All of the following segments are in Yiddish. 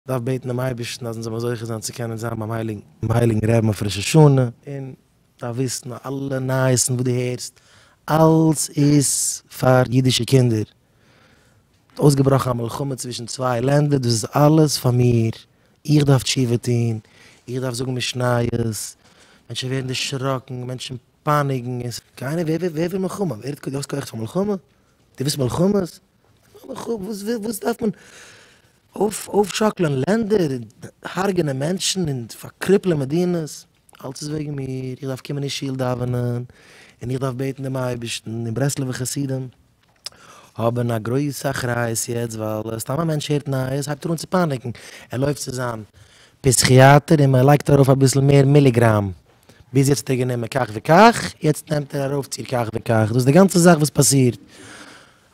דארף בעטן דעם אייבערשטן אז אונז זאל מיר זוכה זיין צו קענען זיין ביים הייליגן רעבן אויף ראש השנה, און דארף וויסן אז אלע נייעסן וואס דו הערסט, אלס איז פאר אידישע קינדער, ס'האט אויסגעבראכן א מלחמה צווישן צוויי לענדער, דאס איז אלעס פאר מיר, איך דארף תשובה טון, איך דארף זאגן משניות, מענטשן ווערן דערשראקן, מענטשן פייניגן, און ס'איז קיינער, ווער וויל מלחמה? ווער האט די כח פאר מלחמה? דו ווילסט מלחמות? לכו ע, וואס וויל, וואס דארף מען אויפשאקלען לענדער און הרג'נען מענטשן און פארקריפלען מדינות, אלץ איז וועגן מיר, איך דארף קומען אין שול דאווענען און איך דארף בעטן דעם אייבערשטן, די ברסלב'ע חסידים האבן א גרויסע אחריות יעצט ווייל סתם א מענטש הערט נייעס הייבט ער אן צו פאניקן, ער לויפט צו זיין פסיכיאטער און מען לייגט ארויף אביסל מער מיליגראם, ביז יעצט האט ער גענומען כך וכך, יעצט נעמט ער ארויפציר כך וכך, דאס איז די גאנצע זאך וואס פאסירט.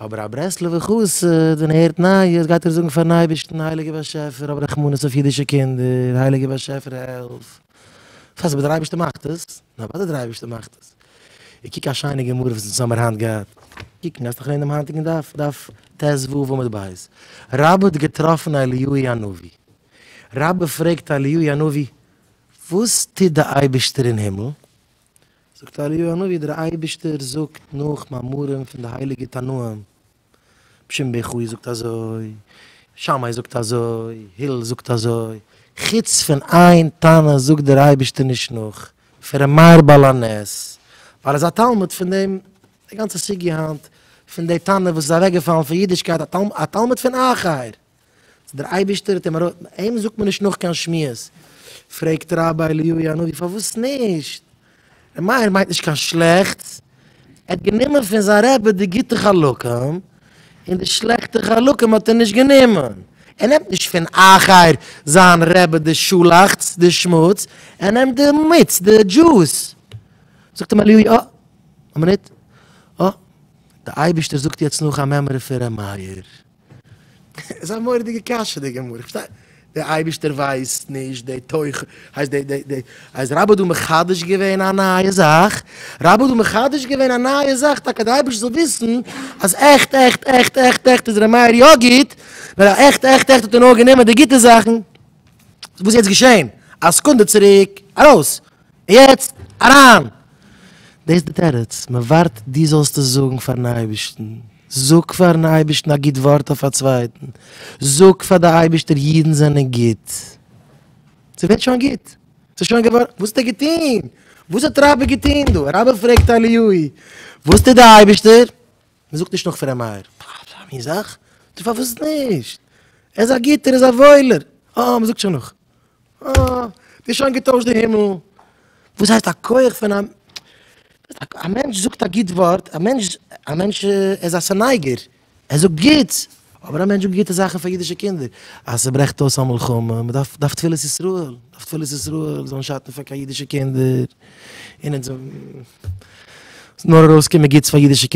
אבער א ברסלב'ע חסיד ווען ער הערט נייעס גייט ער זאגן פארן אייבערשטן הייליגער באשעפער האב רחמנות אויף אידישע קינדער, הייליגער באשעפער העלף, פארוואס אבער דער אייבערשטער מאכט עס? נו אוודאי דער אייבערשטער מאכט עס, און קוק א שיינע גמרא וואס אונז האמיר היינט געהאט, קוק גייסט נאך לערנען דעם היינטיגן דף, דף טז ו עמוד ב', רבי האט געטראפן אליהוי הנביא, רבי פרעגט אליהוי הנביא וואס טוט די אייבערשטער אין הימל? זאגט אליהו הנביא, דער אייבערשטער זאגט נאך מאמרים פון די הייליגע תנאים, בשם בן חוי זאגט אזוי, שמאי זאגט אזוי, הילל זאגט אזוי, חוץ פון איין תנא זאגט דער אייבערשטער נישט נאך, פון ר' מאיר בעל הנס, ווייל ער איז א תלמיד פון דעם, די גאנצע סוגיא היינט פון די תנא וואס איז אוועקגעפאלן פון אידישקייט, א תלמיד פון אחר. דער אייבישטער האט אים ארויס. אים זאגט מען נישט נאך קיין שמועס. פרעגט רבי אליהו הנביא פארוואס נישט? ר' מאיר מיינט נישט קיין שלעכטס, ער האט גענומען פון זיין רבי די גוטע חלקים, און די שלעכטע חלקים האט ער נישט גענומען. ער נעמט נישט פון אחר זיין רבי די שלעכטס, די שמוץ, ער נעמט די מיץ, די דזשוס. זאגט אים אליהו, אה, א מינוט, אה, דער אייבישטער זאגט יעצט נאך א מימרא פון ר' מאיר. איז א מורא'דיגע קשיא די גמרא, איך פארשטיי, דער אייבערשטער ווייסט נישט די תוכן, הייסט די די די אז רבא האט דא מחדש געווען א נייע זאך, רבא האט דא מחדש געווען א נייע זאך טאקע אז דער אייבערשטער זאל וויסן אז עכט עכט עכט עכט עכט איז ר' מאיר יא גוט, נאר אז עכט עכט עכט האט ער נאר גענומען די גוטע זאכן, וואס איז יעצט געשען א סעקונדע צוריק, ארויס יעצט אריין! דאס איז די תירוץ, מען ווארט דו זאלסט עס זאגן פארן אייבערשטן. זאג פארן אייבערשטן א גוט ווארט אויף א צווייטן. זאג פאר די אייבערשטער אידן זענען גוט. ס'ווערט שוין גוט. ס'איז שוין געווארן. וואס האט ער געטון? וואס האט רבי געטון דא? רבי פרעגט אליהו'י, וואס טוט די אייבערשטער? מען זאגט נישט נאך פארן מאיר. אזא מין זאך? דו פארוואס נישט? ער איז א גוטער, ער איז א וואוילער. אה, מען זאגט שוין נאך. אה, די שוין געטוישט די הימל. וואס הייסט א כח פון א, א מענטש זאגט א גוט ווארט, א מענטש, א מענטש איז א ס'נייגער, ער זאגט גוטס, אבער א מענטש זאגט גוטע זאכן פאר אידישע קינדער, אז ס'ברעכט אויס א מלחמה, מ'דארף דארף תפלת ישראל, דארף תפלת ישראל זאלן שאטן פאר קיין אידישע קינדער, און אונז, ס'זאל נאר ארויסקומען גוטס פאר אידישע קינדער.